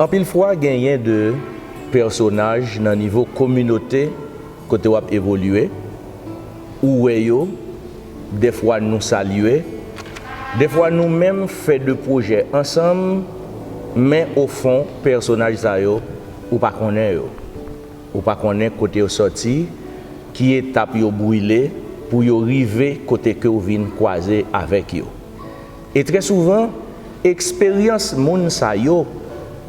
Anpil fwa genyen de pèsonaj nan nivo kominote kote w ap evolye, ou wè yo, dèfwa nou salye, dèfwa nou menm fè de pwojè ansanm, men ofon pèsonaj sa yo ou pa konnen yo. Ou pa konnen kote yo sòti, ki etap yo brile pou yo rive kote ke w vin kwaze avèk yo. E trè souvan, eksperyans moun sa yo,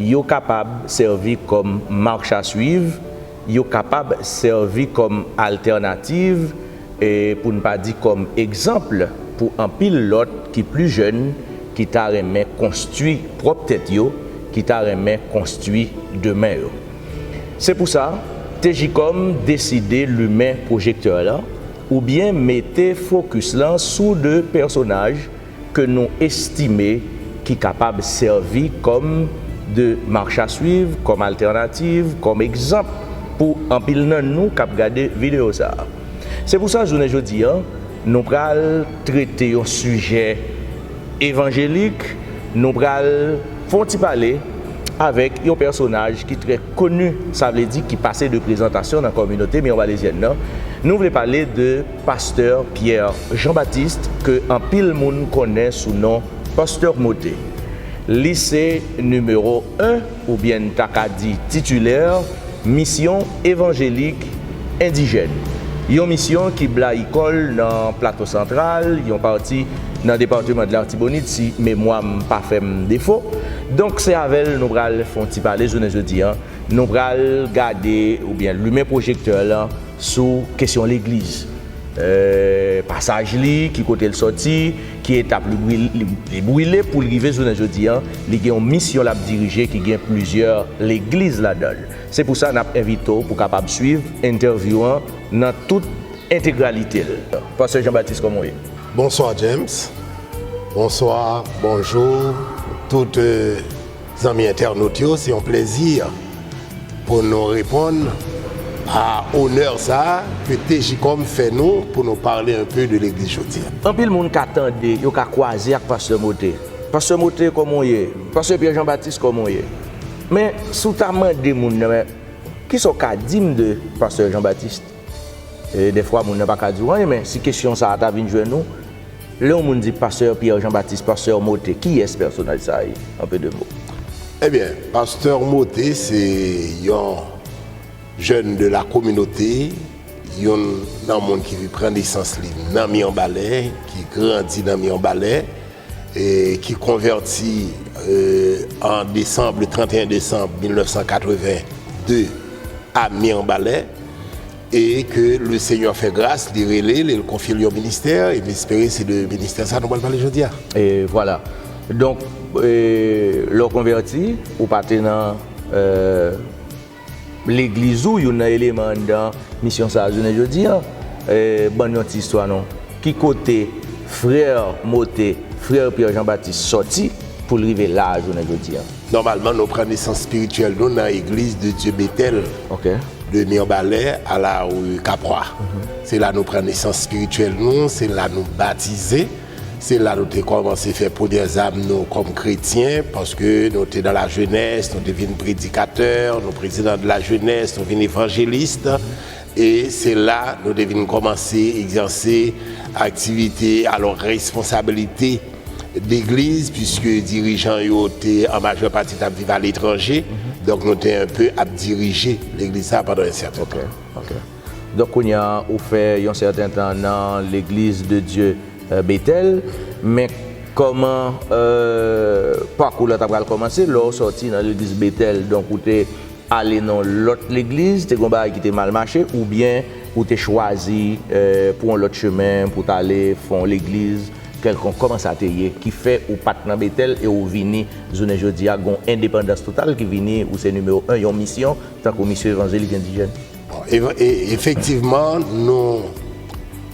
yo kapab sèvi kòm marchaswiv, yo kapab sèvi kòm altènativ, e pou n pa di kòm egzanp pou anpil lòt ki pli jèn, ki ta renmen konstwi pwòp tèt yo, ki ta renmen konstwi demen yo. Se pou sa, TJCOM deside limen pwojektè lan oubyen mete fokis lan sou 2 pèsonaj ke nou estime ki kapab sèvi kòm de marchasuiv, kòm altènativ, kòm egzanp pou anpil nan nou k ap gade videyo sa a. Se pou sa jounen jodi an, Nou pral trete yon sijè evanjelik, nou pral fè yon ti pale avèk yon pèsonaj ki trè koni, sa vle di ki pase de prezantasyon nan kominote Mirwalezyèn nan. Nou vle pale de Pastè Pierre Jean Baptiste ke anpil moun konnen sou non Pasteur Mote. Li se nimewo 1. Oubyen n ta ka di titilè, misyon evanjelik endijèn. Yon misyon ki blayi kò l nan Plato Santral, yon pati nan departeman de l'Artibonite si memwa m pa fè m defo. Donk se avè l nou pral fè yon ti pale jounen jodi a. Nou pral gade oubyen limen pwojektè lan sou kesyon legliz. Pasaj li, ki kote l sòti. Ki etap li brile pou l rive jounen jodi a? Li gen yon misyon l ap dirije ki gen plizyè legliz ladan l. Se pou sa n ap envite w pou w kapab suiv entèvyou an nan tout entegralite l. Pastè Jean Baptiste kòman w ye? Bonswa James, bonswa, bonjou tout. Zanmi entènot yo se yon plezi pou nou reponn a onè sa ke TJCOM fè nou pou nou pale un peu de legliz jodi. Anpil moun ka tande, yo ka kwaze ak Pastè Mothé. Pastè Mothé kòman w ye? Pastè Pierre Jean Baptiste kòman w ye? Men si w ta mande moun nan men kisa w ka di m de Pastè Jean Baptiste? Dèfwa moun nan pa ka di ou anyen men si kesyon sa a ta vin jwenn ou, lè yon moun di Pastè Pierre Jean Baptiste, Pastè Mothé, kiyès pèsonaj sa a ye? En peu de mots. Ebyen, Pastè Mothé se yon jèn de la kominote, youn nan moun ki pran nesans li nan Mirebalais, ki grandi nan Mirebalais. ki konvèti an desanm, le 31 desanm 1982 a Mirbalè, e ke le Senyè fè gras, li rele l e l konfye l yon ministè, e m espere se de ministè sa a nou pral pale jodi a. E vwala. Donk, lè w konvèti, ou pa te nan. Legliz ou youn nan eleman anndan misyon sa a jounen jodi a. Ban n yon ti istwa non. Ki kote frè Mote, frè Pierre Jean Baptiste sòti pou l rive la a jounen jodi a? Nòmalman nou pran nesans spirityèl nou nan Eglise de Dieu Bethel de Mirbalais à la rue Capois. Se la nou pran nesans spirityèl nou, se la nou batize. Se la nou te kòmanse fè premyè zam nou kòm kretyen, paske nou te nan lajenès, nou te vin predikatè, nou prezidan de lajenès, nou vin evanjelis, e se la nou te vin kòmanse egzèse aktivite, alò responsabilite legliz, piske dirijan yo te an majè pati t ap viv aletranje, donk nou te enpe ap dirije legliz sa a pandan yon sèten tan. Donk kounya ou fè yon sèten tan nan legliz de Dye Betèl, men kòman pakou la ta pral kòmanse lè ou sòti nan legliz Betèl donk ou te ale nan yon lòt legliz, te gen yon bagay ki te mal mache oubyen ou te chwazi pran yon lòt chemen pou ta ale fè yon legliz kèlkonk kòman sa te ye ki fè ou pat nan Betèl e ou vini jounen jodi a gen yon endepandans total ki vini ou se nimewo 1 yon misyon tankou misyon evanjelik endijèn? Bon, e, e, efektivman, nou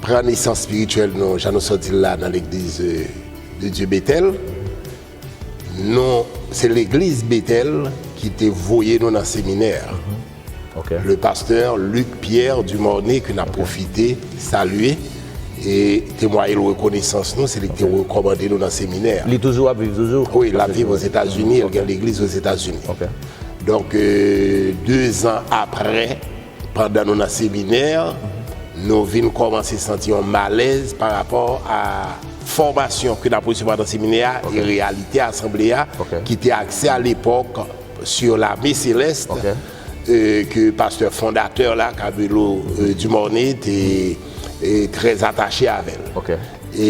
pran nesans spirityèl nou, jan nou sot di l la, nan Legliz de Dye Betèl. Nou, se Legliz Betèl ki te voye nou nan seminè a. Ok. Le pastè Luc Pierre Dumornay, ke n ap pwofite salye e temwaye l rekonesans nou, se li ki te rekòmande nou nan seminè a. Li toujou ap viv toujou? Wi, l ap viv Ozetazini, l gen legliz Ozetazini. Ok. Donk, dezan apre, pandan nou nan seminè, nou vin kòmanse santi yon malèz parapò a fòmasyon ke n ap resevwa nan seminè a e reyalite asanble a ki te akse alepòk sur l'armée céleste ke pastè fondatè la, Cabello Dumornay, te trè atache avè l. E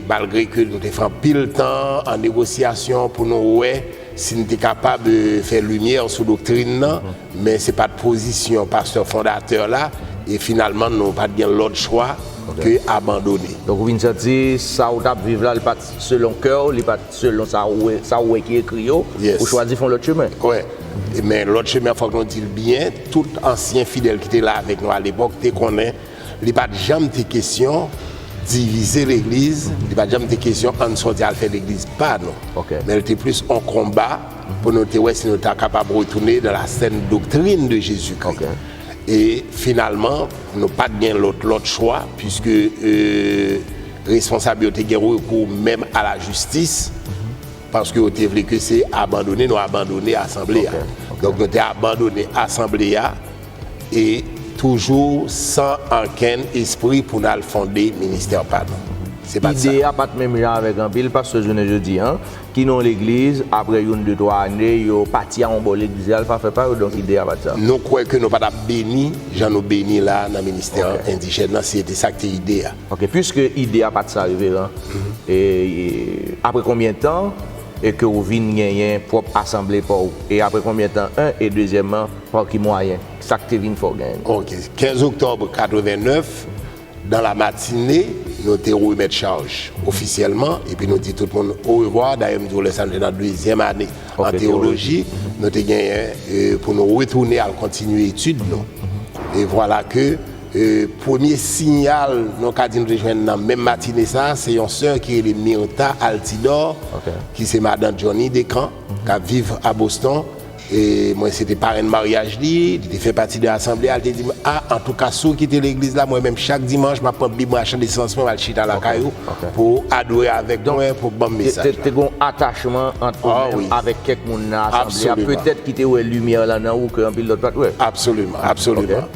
malgre ke nou te fè anpil tan an negosyasyon pou nou wè. Si n te kapab fè limyè sou doktrin nan, men se pa t pozisyon pastè fondatè la, e finalman nou pa t gen lòt chwa ke abandone. Donk ou vin santi sa ou t ap viv la li pa t selon kè ou, li pa t selon sa ou wè, sa ou wè ki ekri yo, ou chwazi fè yon lòt chemen. Wè, men lòt chemen an fòk nou di l byen, tout ansyen fidèl ki te la avèk nou alepòk te konnen Li pa t janm te kesyon divize legliz, li pa t janm te kesyon ann sòti al fè legliz pa nou. Men l te plis on konba pou nou te wè si nou ta kapab retounen nan la sèn doktrin de Jezikri. E finalman, nou pa t gen lòt lòt chwa piske responsab yo te gen rekou menm a la jistis paske yo te vle ke se abandone nou abandone asanble a. Donk nou te abandone asanble a. E toujou san ankenn espri pou n al fonde ministè pa nou. Se pa t sa. Ide a pa t menm jan avèk anpil pastè jounen jodi an, ki nan yon legliz, apre youn, de, twa ane, yo pati a yon bò, legliz la al pa fè pa yo, donk ide a pa t sa. Nou kwè ke nou pa t ap beni jan nou beni la a nan ministè endijèn nan si se te sa k te ide a. Ok, puiske ide a pa t sa Reveran, e apre konbyen tan e ke ou vin genyen pwòp asanble pa w? E apre konbyen tan 1 e dezyèmman, Pa ki mwayen? Sa k te vin fè w gen li? Ok. 15 oktòb 89, dan la matine, nou te remèt chaj ofisyèlman, epi nou di tout moun orevwa. Dayè, m di w lè sa a, nou te nan dezyèm ane an teyoloji. Nou te genyen pou nou retounen al kontinye etid nou. E vwala ke premye siyal nou ka di nou te jwenn nan menm matine sa a, se yon sè ki rele Myrtha Altidor, ki se madan Johnny Decamps, k ap viv a Boston, Mwen se te parenn maryaj li, li te fè pati de asanble a, li te di m, a, antouka si w kite legliz la, mwen menm chak dimanch m ap pran bib mwen ak chan de syans mwen, m al chita lakay ou pou w adore avèk mwen, pou w ban m mesaj la. Donk, te gen yon atachman ant ou menm avèk kèk moun nan asanble a, petèt ki te wè limyè lan nan ou ke anpil lòt pa t wè. Absoliman, absoliman.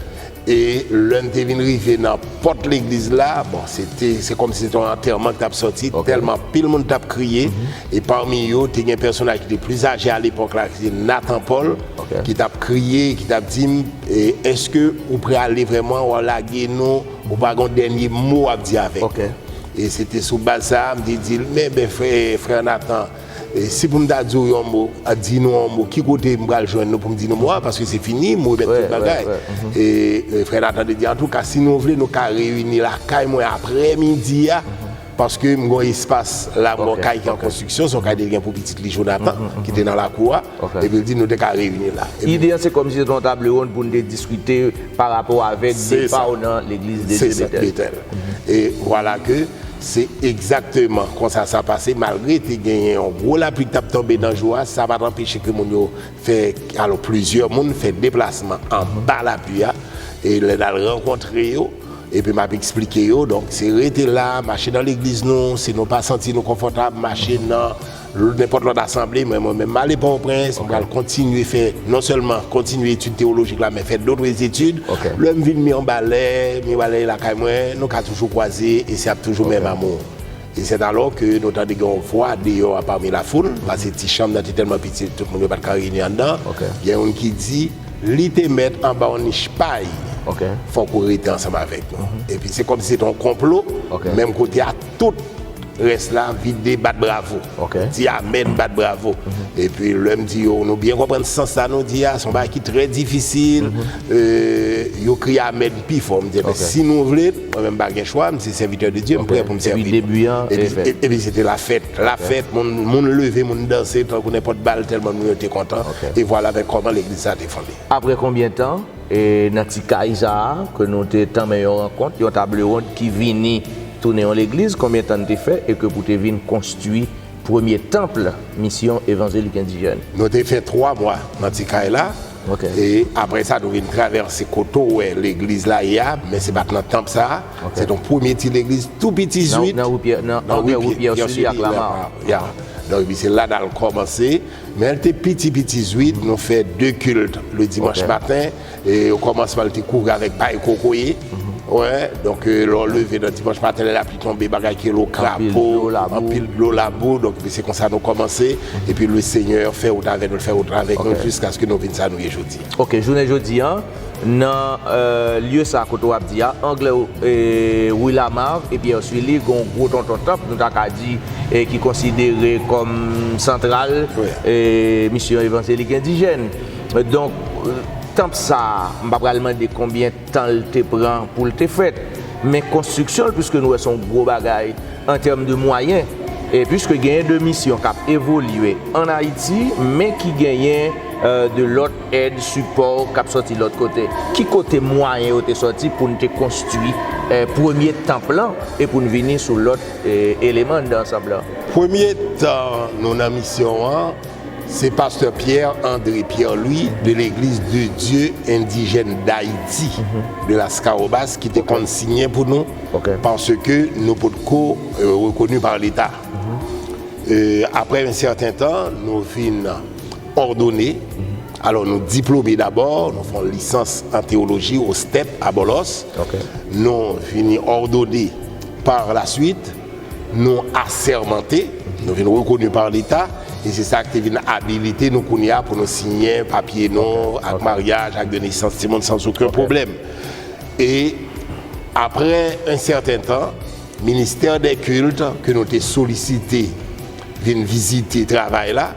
E lè n te vin rive nan pòt legliz la, bon, se te, se kòmsi se te yon antèman ki t ap sòti, tèlman anpil moun t ap kriye. E pami yo, te gen pèsonaj ki te plis aje alepòk la, ki se Nathan Paul, ki t ap kriye, ki t ap di m, Èske ou prale vrèman? W ap lage nou? Ou pa gen yon dènye mo w ap di avèk nou? E se te sou baz sa a, m te di l, Men, men, frè Nathan, Si pou m ta di w yon mo, di nou yon mo, ki kote m pral jwenn nou pou m di nou mo a? Paske se fini, m remèt tout bagay. E frè Nathan te di, Antouka, si nou vle, nou ka reyini lakay mwen apre midi a, paske m gen yon espas la, m gen yon kay ki an konstriksyon, se yon kay li te gen pou pitit li Jonathan, ki te nan lakou a. Epi l di nou te ka reyini la. Ide an se kòmsi se te yon table ronde pou nou te diskite parapò avèk depa w nan Legliz de Dye Betèl. Se sa, Betèl. E vwala ke. Se egzakteman konsa sa pase, malgre te genyen yon gwo lapli k t ap tonbe nan jou a, sa pa t anpeche ke moun yo fè, alò plizyè moun fè deplasman anba lapli a, e lè n al rankontre yo, epi m ap eksplike yo, donk se rete la, mache nan legliz nou, si nou pa santi nou konfòtab, mache nan. nenpòt lòt asanble, men mwen menm m ale Pòtoprens, m pral kontinye fè, non sèlman kontinye etid tewolojik la men fè dotre etid. Lè m vin Mirbalè, Mirbalè e lakay mwen, nou ka toujou kwaze e se ap toujou menm amou. E sèt alò ke nou tande gen yon vwa deyò a pami lafoul, pase ti chanm nan te tèlman piti tout moun yo pa t ka reyini anndan, gen youn ki di, Li te mèt anba yon nich pay, fòk ou rete ansanm avèk nou. Epi se kòmsi se te yon konplo, menm kote a tout Rès la vide bat bravo. Di amèn bat bravo. Epi lè m di yo nou byen konprann sans sa nou di a, se yon bagay ki trè difisil, yo kriye amèn pi fò. M di enben si nou vle, mwen menm m pa gen chwa, m se sèvitè de Dye, m prè pou m sèvi nou. Epi se te lafèt. Lafèt, moun leve, moun danse tankou nenpòt bal tèlman moun yo te kontan. E vwalavèkòman legliz sa te fonde. Aprè konbyen tan? E nan ti kay sa a, ke nou te tanmen yon rankont, yon tablewond ki vini tounen yon legliz, konbyen tan n te fè e ke pou te vin konstwi premye tanp Misyon Evanzelik Endijèn? Nou te fè twa mwa nan ti kay la, e apre sa nou vin travèse kote w wè legliz la ye a, men se pa t nan tanp sa a, se t yon premye ti legliz tou piti zwit, nan ri Pierre Sully ak Lamar. Ya. Donk epi se la n al kòmanse. Men l te piti piti zwit, nou fè 2 kilt le dimanch maten, e o kòmansman l te kouvri avèk pay kokoye, wè, donk lè w leve nan dimanch maten lè lapli tonbe bagay ki rele krapo, anpil dlo labou, donk epi se konsa nou kòmanse, epi le Senyè fè wout avè nou, l fè wout avèk nou jiskaske nou vin sa nou ye jodi a. Ok, jounen jodi a. Nan lye sa kote w ap di a, angle Rue Lamarre e Pierre Sully, gen yon gwo tonton tanp nou ta ka di ki konsidere kòm santral misyon evanjelik endijèn. Donk, tanp sa a, m pa pral mande konbyen tan l te pran pou l te fèt, men konstriksyon l, piske nou wè se yon gwo bagay an tèm de mwayen, piske genyen de misyon k ap evolye ann Ayiti, men ki genyen de lòt. Èd, sipò k ap sòti lòt kote. Ki kote mwayen yo te sòti pou n te konstwi premye tanp lan e pou n vini sou lòt eleman anndan ansanb lan? Premye tan nou nan misyon an, se pastè Pierre André Pierre-Louis de L'Eglise de Dieu Indigène d'Haïti de Lascahobas ki te konn siyen pou nou paske nou potko rekoni pa Leta. Aprè yon sèten tan, nou vin. Òdone, Alò nou diplome dabò, nou fè yon lisans an teyoloji o step a Bòlòs, nou vini òdone parlasuit, nou asèmante, nou vin rekoni pa Leta, e se sa ki te vin abilite nou kounye a pou nou siyen papye nou, ak maryaj, ak de nesans timoun sans oken pwoblèm. E aprè en sèten tan, Ministè dè Kilt ke nou te solisite, vin vizite travay la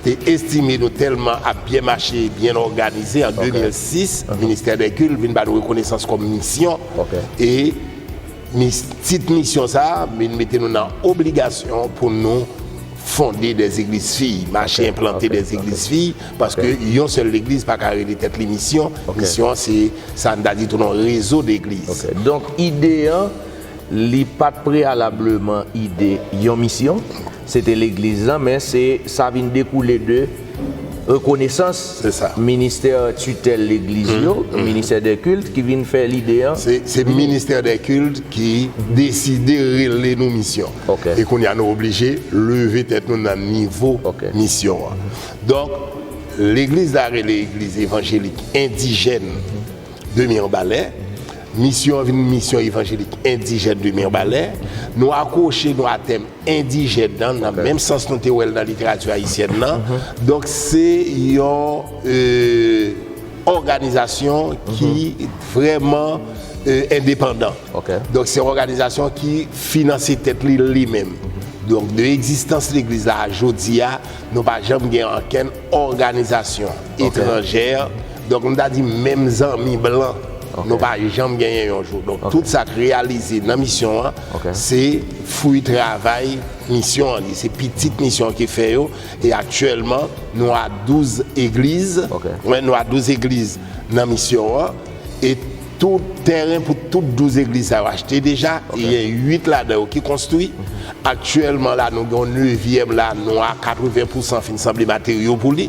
e estime nou tèlman ap byen mache e byen òganize an 2006 ministè dè kilt vin ba nou rekonesans kòm misyon e tit misyon sa vin mete nou nan obligasyon pou nou fonde dè zegliz fi mache enplante dè zegliz fi paske yon sèl legliz pa ka rele tèt li misyon misyon an se sa n ta di tou non rezo degliz. Ok donk ide an li pa t preyalableman ide yon misyon, se te legliz lan, men se sa vin dekoule de rekonesans ministè titèl legliz yo, ministè dè kilt ki vin fè lide an. Se ministè dè kilt ki deside rele nou misyon. E kounye a nou oblije leve tèt nou nan nivo misyon an. Donk legliz la rele egliz evanjelik endijèn. de Mirbalè. Misyon an vin Misyon Evanjelik Endijèn de Mirbalè. Nou akwoche nou a tèm endijèn nan, nan menm sans nou te wè l nan literati ayisyèn nan. Donk se yon òganizasyon ki vrèman endepandan. Donk se yon òganizasyon ki finanse tèt li li menm. Donk de egzistans legliz la a jodi a, nou pa janm gen ankenn òganizasyon etranjè, Donk m ta di menm zanmi blan nou pa janm genyen yon jou. Donk tout sa k reyalize nan misyon an se fwi travay misyon an li se pitit misyon an ki fè yo e aktyèlman nou a 12 egliz nou a 12 egliz nan misyon an e Tout tèren pou tout 12 egliz sa yo achte deja, e gen 8 ladan yo ki konstwi. Aktyèlman la nou gen yon nevyèm la, nou a 80 pousan fin sanble materyo pou li.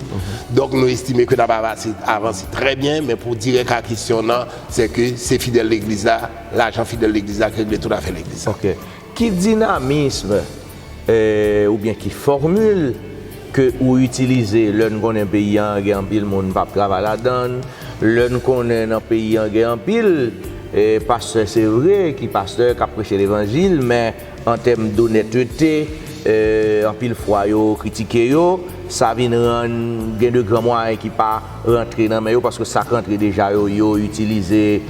Donk nou estime ke n ap avase, avanse trè byen, men pou dirèk a kesyon nan, sè ke se fidèl legliz la, lajan fidèl legliz la ki regle tout afè legliz la. Ok. Ki dinamism oubyen ki fòmil ke ou itilize lè n konnen peyi an gen anpil moun pap travay ladan l, lè n konnen nan peyi an gen anpil pastè se vre ki pastè kap preche levanjil men an tèm donètete anpil fwa yo kritike yo sa vin rann gen de gran mwayen ki pa rantre nan men yo paske sak rantre deja yo yo itilize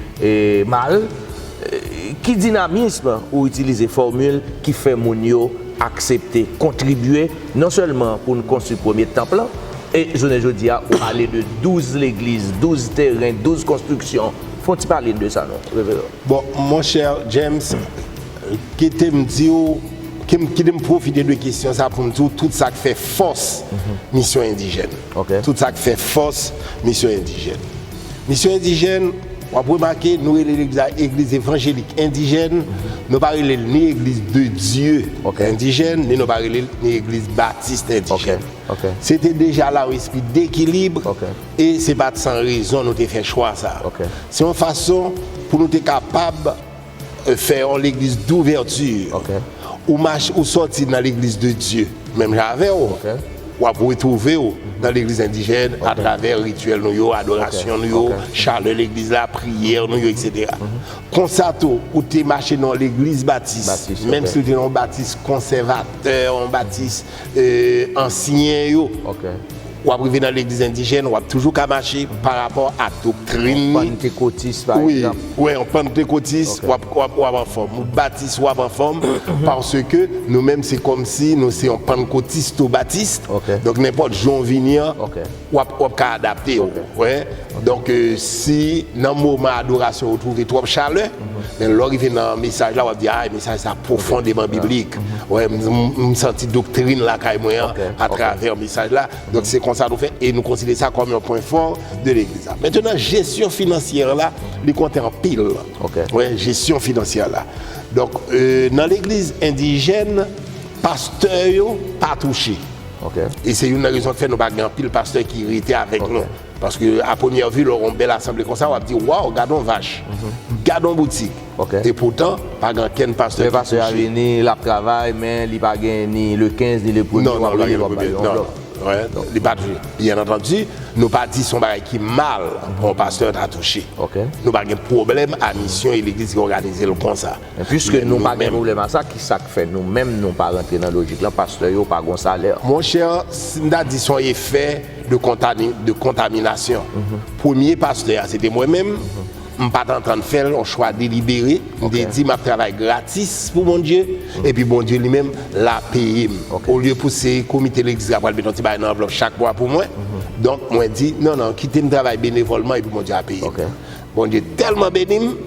mal. Ki dinamism ou itilize fòmil ki fè moun yo aksepte kontribye non sèlman pou n konstwi premye tanp lan, e jounen jodi a ou pale de 12 legliz, 12 teren, 12 konstriksyon. Fè yon ti pale n de sa non, Reveran. Bon, monchè James, kite m di w, kite m pwofite de kesyon sa pou m di w tout sa k fè fòs misyon endijèn. Ok. Tout sa k fè fòs misyon endijèn. Misyon Endijèn, W ap remake nou rele legliz la Egliz Evanjelik Endijèn, nou pa rele l ni Egliz de Dye Endijèn, ni nou pa rele l ni Egliz Batist Endijèn. Se te deja la yon espri dekilib e se pa t san rezon nou te fè chwa sa a. Se yon fason pou nou te kapab. Fè yon legliz douvèti Ok. Ou mache ou sòti nan legliz de Dye menm jan avè w Ok. W ap retwouve w nan legliz endijèn atravè rityèl nou yo, adorasyon nou yo, Ok. chalè legliz la, priyè nou yo etc. Konsa tou ou te mache nan yon legliz batis Batis, ok. menm si l te nan yon batis konsèvatè, yon batis ansyen yo. W ap rive nan legliz endijèn, w ap toujou ka mache pa rapò ak doktrin li. Yon pantekotis pa egzanp. Wi, yon pantekotis, w ap anfòm. Yon batis, w ap anfòm. Paske nou menm se kòmsi nou se yon pannkotis tou batist. Donk nenpòt jan w vini an. Wap wap ka adapte ou wè donk si nan moman adorasyon ou twouve twòp chalè men lè ou rive nan mesaj la wap di ay mesaj sa pwofondeman biblik wè m santi doktrin lakay mwen an atravè mesaj la donk se konsa nou fè e nou konsidere sa kòm yon pwen fò de legliz la mentenan jesyon finansyè la li konte anpil wè jesyon finansyè la donk nan legliz endijèn pastè yo pa touche. E se youn nan rezon k fè nou pa gen anpil pastè ki rete avèk nou. Paske a premyè vi lè w wè yon bèl asanble konsa w ap di waw gade yon vach, gade yon boutik. E poutan pa gen ankenn pastè ki touche. Men pastè a vini, l ap travay men li pa gen ni le 15 ni le premye w ap gade w ap bay yon blòf. Non, li pa dwe. Byen antandi, nou pa di se yon bagay ki mal pou yon pastè ta touche. Nou pa gen pwoblèm a misyon e legliz ki òganize l konsa. Puiske nou pa gen pwoblèm a sa, kisa k fè nou menm nou pa rantre nan lojik lan pastè yo pa gon salè? Mon chè, si m ta di s on efè de kontani, de kontaminasyon. Premye pastè a se te mwen menm, m pa t antann fè l, on chwa delibere, m te di m ap travay gratis pou Bondye, epi Bondye li menm l a peye m. Olye pou se komite legliz la pral met on ti bagay nan anvlòp chak mwa pou mwen, donk mwen di non non kite m travay benevòlman epi Bondye a peye m. Bondye tèlman beni m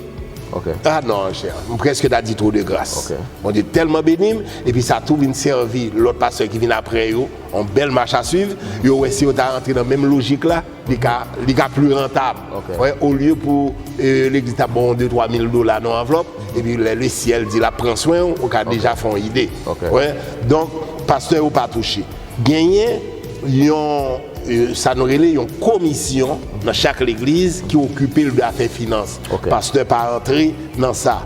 Ok. Ah non anchè, m prèske ta di twou de gras. Ok. Bondye tèlman beni m, epi sa tou vin sèvi lòt pastè ki vin aprè yo on bèl mach a swiv, yo wè si yo ta antre nan menm lojik la, li ka li ka pli rantab. Ok. Wè, olye pou e legliz ta ba w on de twa mil dola nan anvlòp, epi lè le syèl di l ap pran swen w, ou ka deja fè on ide. Ok. Wè, donk pastè yo pa touche. Genyen yon. sa nou rele yon komisyon nan chak legliz ki okipe l de afè finans. Pastè pa antre nan sa.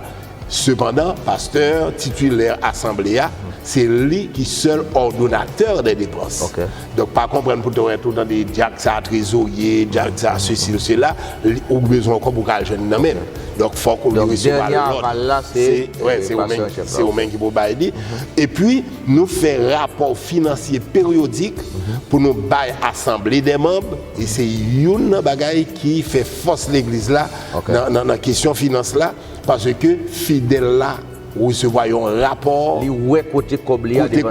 Sepandan, pastè titilè asanble a, se li ki sèl òdonatè dè depans. Donk, pa konprann pou tèt ou tande dyak sa trezorye, dyak sa sesi ou sela, ou bezwen yon kòb ou ka jwenn nan men l. Donk, fòk ou vin resevwa lòd. Dènye aval la se pastè an chèf la. Se ou menm ki pou bay li. Epi. Nou fè rapò finansye peryodik pou nou bay asanble dè manb, e se youn nan bagay ki fè fòs legliz la nan kesyon finans la, paske fidèl la resevwa yon rapò, li wè kote kòb li ale.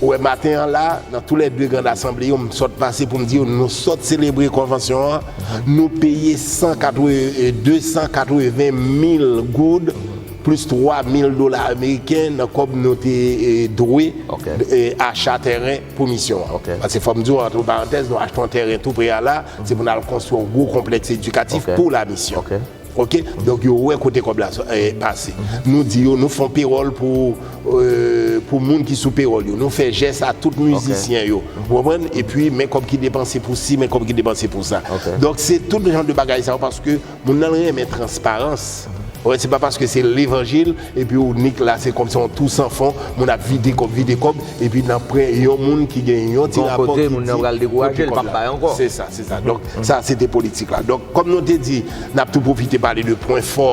Ou wè maten an la, nan tou lè 2 grand asanble yo, m sot pase pou m di yo, nou sot selebre konvansyon an, nou peye 280 mil goud, Plis 3 mil dola ameriken nan kòb nou te dwe acha tèren pou misyon an. Pase fò m di w antre parantèz, nou achte yon tèren tou pre a la, se pou n al konstwi yon gwo konplèks edikatif pou la misyon. Ok. Donk yo wè kote kòb la pase. Nou di yo nou fon pewòl pou moun ki sou pewòl yo. Nou fè jès a tout mizisyen yo. Ou konprann? Epi men kòb ki depanse pou si, men kòb ki depanse pou sa. Donk se tout jan de bagay sa yo paske. Moun nan renmen transparans ok se pa paske se levanjil epi ou nik la se kòmsi yon tou san fon moun ap vide kòb vide kòb epi nan pran yon moun ki gen yon ti rapò ki di kote kòb la se sa se sa donk sa se te politik la donk kòm nou te di nap tou pwofite pale de pwen fò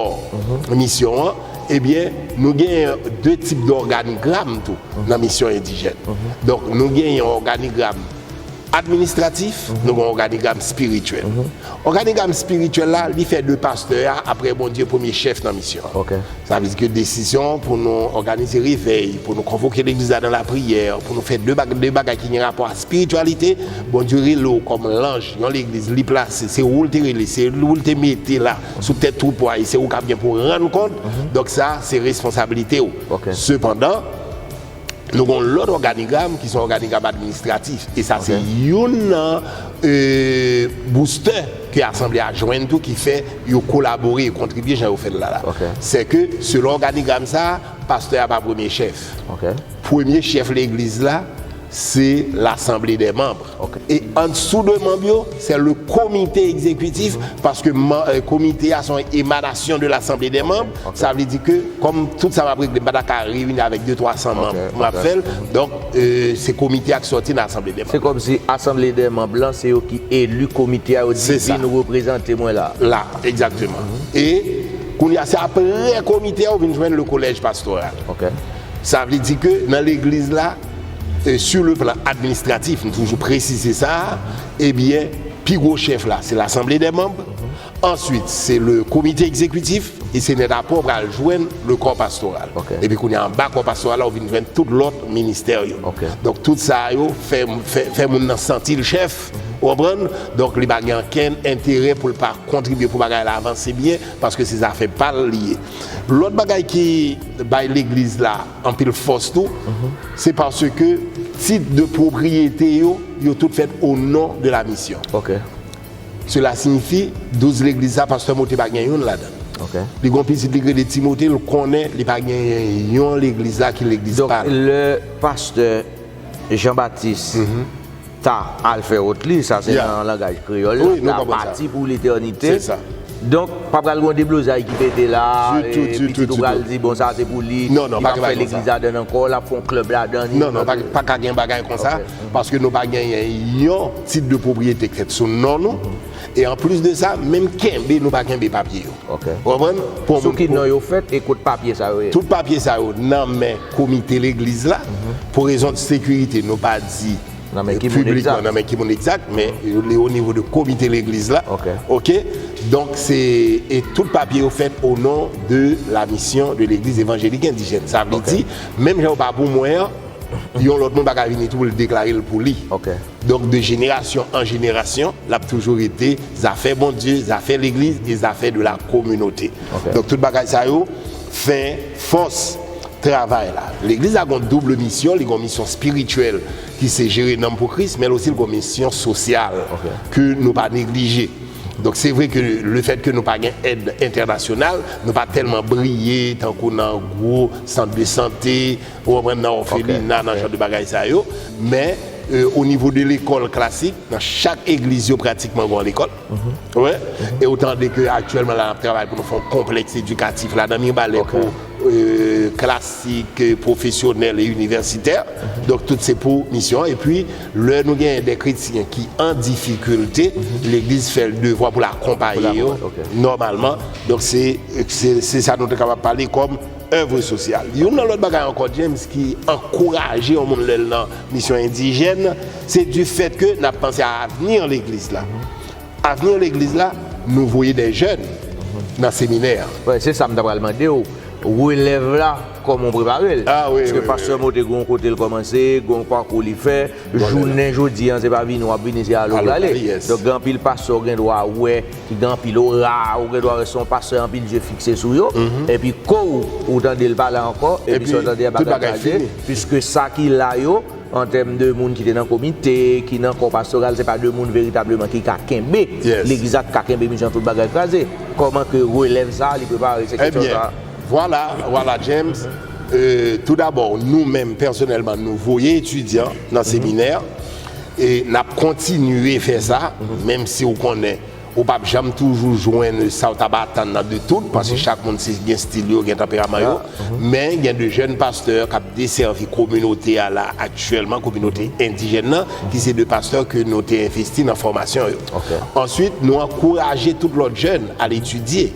misyon an ebyen nou gen de tip dòganigram tou nan misyon endijèn donk nou gen yon òganigram Administratif, nou gen òganigram spirityèl. Òganigram spirityèl la, li fè de pastè a, aprè Bondye, premye chèf nan misyon an. Sa vle di ke desizyon pou nou òganize revèy, pou nou konvoke legliz la nan lapriyè, pou nou fè de bagay ki gen rapò a spirityalite, Bondye rele ou kòm lanj yon legliz li plase, se ou l te rele, se ou l te mete la sou tèt twoupo a e se ou k ap gen pou rann kont, donk sa se responsablite ou. Sepandan. Nou gen yon lòt òganigram ki se yon òganigram administratif, e sa se youn nan boustè ke asanble a jwenn tou ki fè yo kolabore, yo kontribye jan yo fè l la la. Se ke selon òganigram sa a, pastè a pa premye chèf. Premye chèf legliz la se lasanble dè manb. Ok e andssou de manb yo se le komite egzekitif paske komite a son emanasyon de lasanble de manb sa vle di ke kom tout sa map regle m pa ta ka reyini avek de 300 manb pou map fel donk se komite a ki soti nan asanble de manb. Se kom si asanble de manb lan se yo ki eli komite a yo di vin reprezante mwen la. La egzakteman e kounya se apre komite a ou vin jwenn le kolèj pastoral sa vle di ke nan legliz la. Sur le plan administratif, m toujou presize sa, ebyen pi gwo chèf la se Lasanble dè Manb, answit se le Komite Ekzekwitif e se nèt apre w pral jwenn le Kò Pastoral. Epi kounye a anba Kò Pastoral la ou vin jwenn tout lòt ministè yo. Donk tout sa yo fè fè moun nan santi l chèf, ou konprann, donk li pa gen ankenn enterè pou l pa kontribye pou bagay la avanse byen paske se zafè pa l li ye. Lòt bagay ki bay legliz la. Anpil fòs tou, se paske tit de pwopriyete yo, yo tout fèt o non de la misyon. Sela siyifi, douz legliz sa, pastè Mote pa gen youn ladan. Li gen yon pitit li k rele Timote, l konnen li pa gen yon legliz la ki legliz pa l. Donk lè pastè. Jean Baptiste ta al fè wot li, sa se nan langaj kreyòl la, ta pati pou letènite. Donk, pa pral gen yon deblozay ki pete la, pitit ou pral di bon sa se pou li, li pa fè legliz ladann ankò, l ap fè yon klèb ladann. Non, non, pa ka gen bagay kon sa, paske nou pa genyen yon tit de pwopriyete ki fèt sou non nou, e anplis de sa, menm kenbe nou pa kenbe papye yo. Ok. Ou konprann? Pou yon moun. Sou ki non yo fèt e kot papye sa yo ye? Tout papye sa yo nan men komite legliz la. Pou rezon de sekirite nou pa di. Nan men ki moun egzat. Piblikman nan men ki moun egzat, men li o nivo de komite legliz la. Ok. Ok? Donk se, e tout papye yo fèt o non de la misyon de legliz evanjelik endijèn. Sa vle di, menm jan yo pa pou mwen an. Yon lòt moun pa ka vini tou pou l deklare l pou li. Donk, de jenerasyon an jenerasyon, l ap toujou rete zafè Bondye, zafè legliz e zafè de la kominote. Donk, tout bagay sa yo fè fòs travay la. Legliz la gen yon double misyon, li gen yon misyon espirityèl ki se jere nanm pou Kris, men l osi l gen yon misyon sosyal ke nou pa neglije. Donk, se vre ke lefètke nou pa gen èd entènasyonal, nou pa tèlman briye tankou nan gwo sant de sante, Ou konprann nan òfelina, nan jan de bagay sa yo. Men, o nivo de lekòl klasik, nan chak egliz yo pratikman gen yon lekòl. Oke? E ou tande ke aktyèlman la n ap travay pou nou fè yon konplèks edikatif ladan Mibalè pou klasik, pwofesyonèl e inivèsitè. Donk tout se pou misyon an. Epi, lè nou genyen de kretyen ki an difikilte, legliz fè l devwa pou l akonpaye yo nòmalman. Donk se sa nou te kapab pale kòm. Èvre sosyal. Youn nan lòt bagay ankò James ki ankouraje yon moun lè l nan misyon endijèn, se difèt ke n ap panse a avni legliz la. Avni legliz la, nou voye dè jèn nan seminè a. Wè, se sa m ta pral mande w, relèv la, kòman w prepare l? Paske pastè Mo te gen yon kote l kòmanse, gen yon pakou li fè. Jounen jodi an, se pa vini w ap vini, se ale w prale. Donk gen anpil pastè w gen dwa wè. ki gen anpil ora, ou gen dwa wè se yon pastè anpil je fikse sou yo, epi kou ou tande l pa la ankò, epi sa w tande a bagay pral de, piske sa ki la yo, an tèm de moun ki te nan komite, ki nan kò pastoral, se pa de moun veritableman ki ka kenbe legliz la, ki ka kenbe misyon an tout bagay kraze. Kòman ke relèv sa a li prepare? Se kesyon sa a. Vwala, vwala James, tou dabò nou menm pèsonèlman nou voye etidyan nan seminè, E nap kontinye fè sa, menm si ou konnen ou pap janm toujou jwenn sa ou tap atann nan de tout, paske chak moun se gen stil yo, gen tanperaman yo, men gen de jèn pastè kap desèvi kominote a la aktyèlman, kominote endijèn nan, ki se de pastè ke nou te envesti nan fòmasyon yo. Answit nou ankouraje tout lòt jèn al etidye.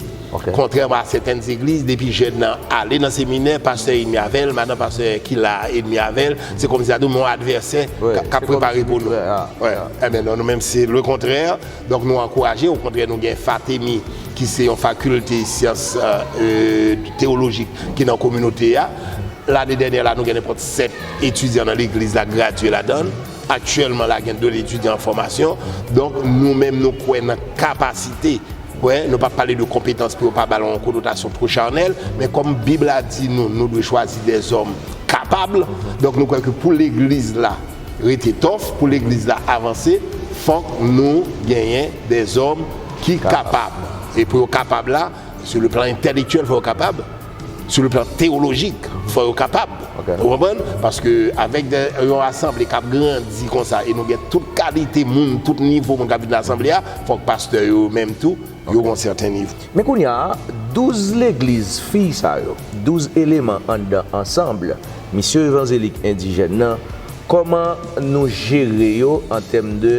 Kontrèman a sèten zegliz, depi jèn nan ale nan seminè, pastè edmi avè l, madan pastè ki la a edmi avè l, se kòmsi sa tou men yon advèsè k ap prepare pou nou. Enben non, nou menm se lekontrè, donk nou ankouraje, okontrè nou gen FATEMI ki se yon fakilte syans tewolojik ki nan kominote a. Lane dènyè la nou gen nenpòt 7 etidyan nan legliz la gradye ladan l. Aktyèlman la gen 2 etidyan an fòmasyon. Donk nou menm nou kwè nan kapasite. Wè, nou pa pale de konpetans pou yo pa ba l yon konotasyon two chanèl, men kòm Bib la di nou, nou dwe chwazi dèzòm kapab, donk nou kwè ke pou legliz la rete tòf, pou legliz la avanse, fòk nou genyen dèzòm ki kapab. E pou yo kapab la, sou le plan entèlektyèl fòk yo kapab. Sou le plan teyolojik, fò yo kapab. Ou konprann? Paske avèk yon asanble k ap grandi konsa e nou gen tout kalite moun, tout nivo moun k ap vin nan asanble a, fòk pastè yo menm tou, yo gen yon sèten nivo. Men kounye a, douz legliz fi sa yo, douz eleman anndan ansanble, Misyon Evanzelik Endijèn nan, kòman nou jere yo an tèm de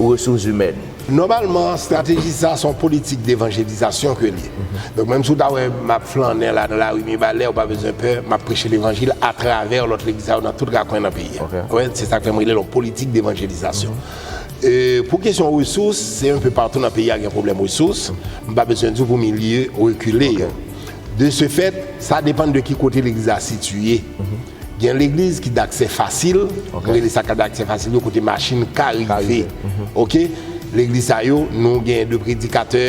resouzimèn? Nòmalman, estrateji sa a se yon politik devanjelizasyon ke l ye. Donk, menm si w ta wè m ap flannen la nan lari Mibalè, ou pa bezwen pè, m ap preche levanjil atravè lòt legliz sa yo nan tout rakwen nan peyi a. Ou wè, se sa k fè m rele l yon politik devanjelizasyon. Pou kesyon resous, se enpe patou nan peyi a gen pwoblèm resous. M pa bezwen di w pou milye rekile yo. De se fèt, sa depann de ki kote legliz la sitiye. Gen legliz ki daksè fasil, nou rele sa ka daksè fasil yo kote machin ka rive ok. Legliz sa yo nou gen de predikatè,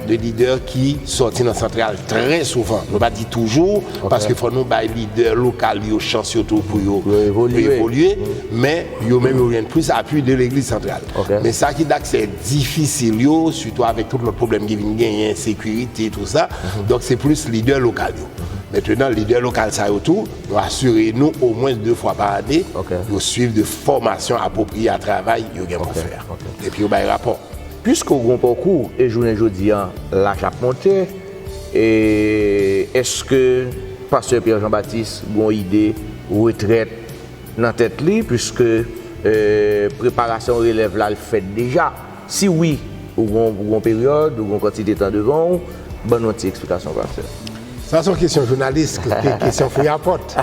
de lidè ki sòti nan santral trè souvan. Nou pa di toujou paske fò nou bay lidè lokal yo chans yo tou pou yo evolye men yo menm yo jwenn plis apui de legliz santral. Men sa ki daksè difisil yo sitou avèk tout lòt pwoblèm ki vin genyen, sekirite tou sa, donk se plis lidè lokal yo. Mentenan lidè lokal sa yo tou Yo asire nou omwens 2 fwa pa ane, yo swiv de fòmasyon apwopriye a travay yo gen pou fè a. Epi yo bay rapò. Piske w gen yon pakou e jounen jodi a laj ap monte, èske pastè Pierre Jean Baptiste gen yon ide retrèt nan tèt li piske preparasyon relèv la fèt deja? Si wi, ou gon pou gon peryòd, ou gon kantite tan devan ou, ban nou yon ti eksplikasyon Pasteur. Sa son kesyon jounalis, kesyon fouyapòt.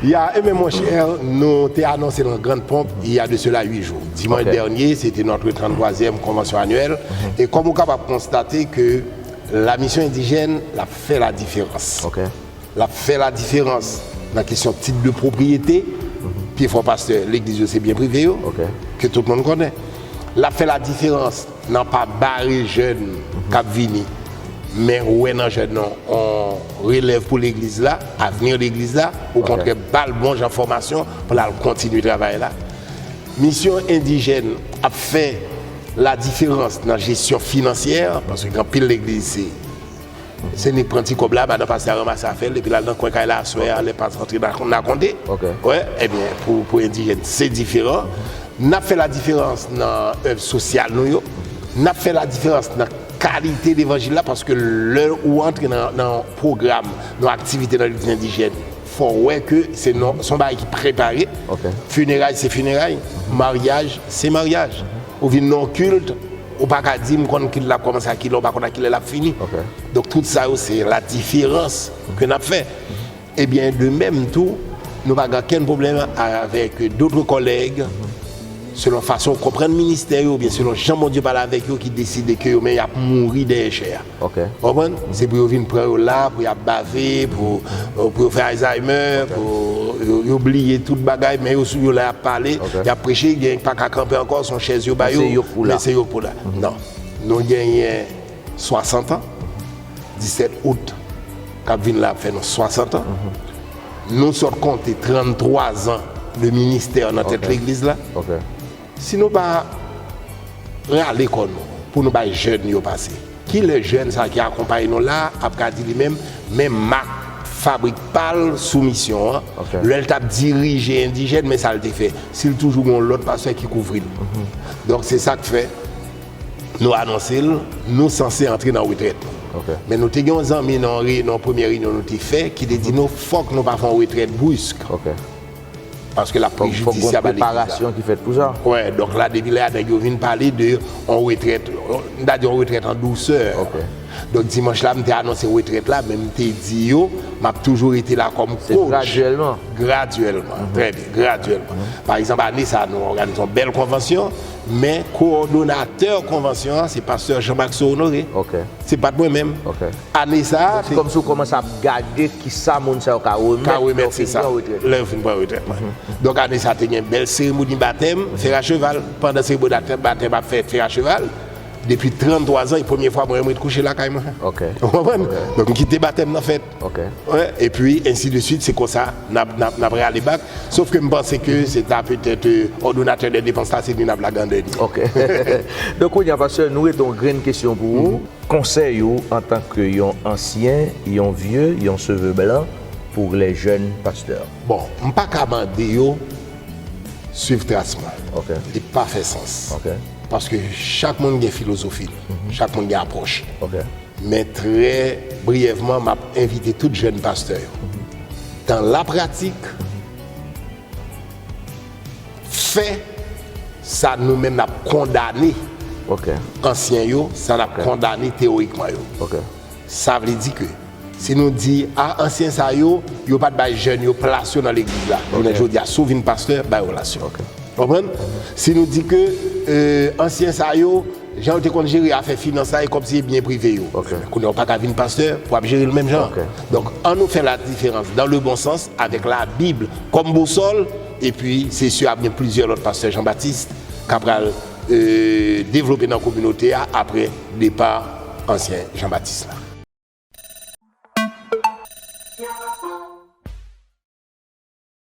Ya e men mon cher, nou te anonse l an grand pomp il ya de cela 8 jou. Dimanche dernier, se te notre 33èm konvansyon annuèl e kòm ou kapab konstate ke la misyon endijèn l ap fè la diferans. L ap fè ladiferans nan kesyon tit de pwopriyete, pi fò pastè legliz yo se byen prive yo, ke tout moun konnen. L ap fè ladiferans nan pa bare jèn k ap vini, men wè nan jèn nan yon relèv pou legliz la, avni legliz la, okontrè ba l bon jan fòmasyon pou l al kontinye travay la. Misyon endijèn ap fè ladiferans nan jesyon finansyè, paske gen anpil legliz se Zenny pran ti kòb la, madan pastè a ranmase afè l epi l al nan kwen kay la aswè a lè past rantre nan akonte. Wè, ebyen pou endijèn se diferan. N ap fè ladiferans nan èv sosyal nou yo, n ap fè ladiferans nan kalite levanjil la paske lè ou antre nan yon pwogram, nan yon aktivite nan legliz endijèn fò w wè ke se yon bagay ki prepare. Fineray se fineray, maryaj se maryaj. Ou vin nan yon kilt. Ou pa ka di m konn kilè l ap kòmanse ak kilè ou pa konn ak kilè l ap fini. Donk tout sa yo se la diferans ke n ap fè. Ebyen de menm tou nou pa gen ankenn pwoblèm avèk dotre kòlèg selon fason w konprann ministè yo oubyen selon jan Bondye pale avèk yo ki deside ke yo menm y ap mouri dèyè chè a. Ok. Ou konprann? Se pou yo vin pran yo la, pou y ap bave, pou pou yo fè Alzheimer, pou yo yo bliye tout bagay, men yo sou yo la y ap pale, y ap preche, gen ki pa ka kanpe ankò, se yon chèz yo ba yo, men se yo k pou la. Non. Nou genyen 60 an, 17 out k ap vin la ap fè nou 60 an. Nou sot konte 33 zan de ministè nan tèt legliz la. Ok. Si nou pa rale kò nou pou nou bay jèn yo pase, ki lè jèn sa ki akonpaye nou la ap ka di li menm men mak fabrik pa l sou misyon an lè l t ap dirije endijèn men sa l te fè si l toujou gen yon lòt pastè ki kouvri l? Donk se sa k fè nou anonse l nou sanse antre nan retrèt nou. Men nou te gen yon zanmi nan yon reyinyon premyè reyinyon nou te fè ki te di nou fòk nou pa fè yon retrèt brisk. Paske lap pli jidisyab a leji la. Wè, donk la depi lè a nèg yo vin pale de yon retrèt, m ta di yon retrèt an dousè. Donk dimanch la m te anonse retrèt la men m te di yo m ap toujou rete la kòm kotch. Se gradyèlman. Gradyèlman, trè byen, gradyèlman. Pa egzanp ane sa nou òganize yon bèl konvansyon. Men kowòdonatè konvansyon an se pastè Jean Maxo Honoré. Se pat mwen menm. Ane sa a. Se kòm si ou kòmanse ap gade ki sa moun sa yo ka remèt lè yo fin pran retrèt yo. Lè yo fin pran retrèt mwen. Donk ane sa a te gen bèl seremoni batèm Fè Racheval. Pandan seremoni batèm ap fèt Fè Racheval, depi 33 zan e premye fwa mwen menm ret kouche lakay mwen. Ou konprann? Donk m kite batèm nan fèt. e pi ensi de swit se konsa n ap rale bak sof ke m panse ke se ta petèt òdonatè dè depans la se vin ap lagandè ni. Ok donk kounye a pastè nou rete yon grenn kesyon pou ou konsèy ou antan ke yon ansyen yon vye yon seve blan pou lè jèn pastè. Bon m pa ka mande yo swiv tras mwen li pa fè sans paske chak moun gen filozofi l chak moun gen apwòch li. Men trè briyèvman m ap envite tout jèn pastè yo, dan lapratik, fè sa nou menm n ap kondane ansyen yo, sa n ap kondane teworikman yo. Sa vle di ke si nou di, a ansyen sa yo, yo pa t bay jèn yo plas yo nan legliz la, jounen jodi a si w vin pastè, bay yo plas yo. Konprann? Si nou di ke ansyen sa yo. Jan yo te konn jere afè finans la e kòb se byen prive yo. Kounye a ou pa ka vin pastè pou ap jere l menm jan. Donk an nou fè ladiferans dan le bon sans avèk labib kòm bousòl epi se si ap gen plizyè lòt pastè Jean Baptiste k ap pral devlope nan kominote a aprè depa ansyen Jean Baptiste la.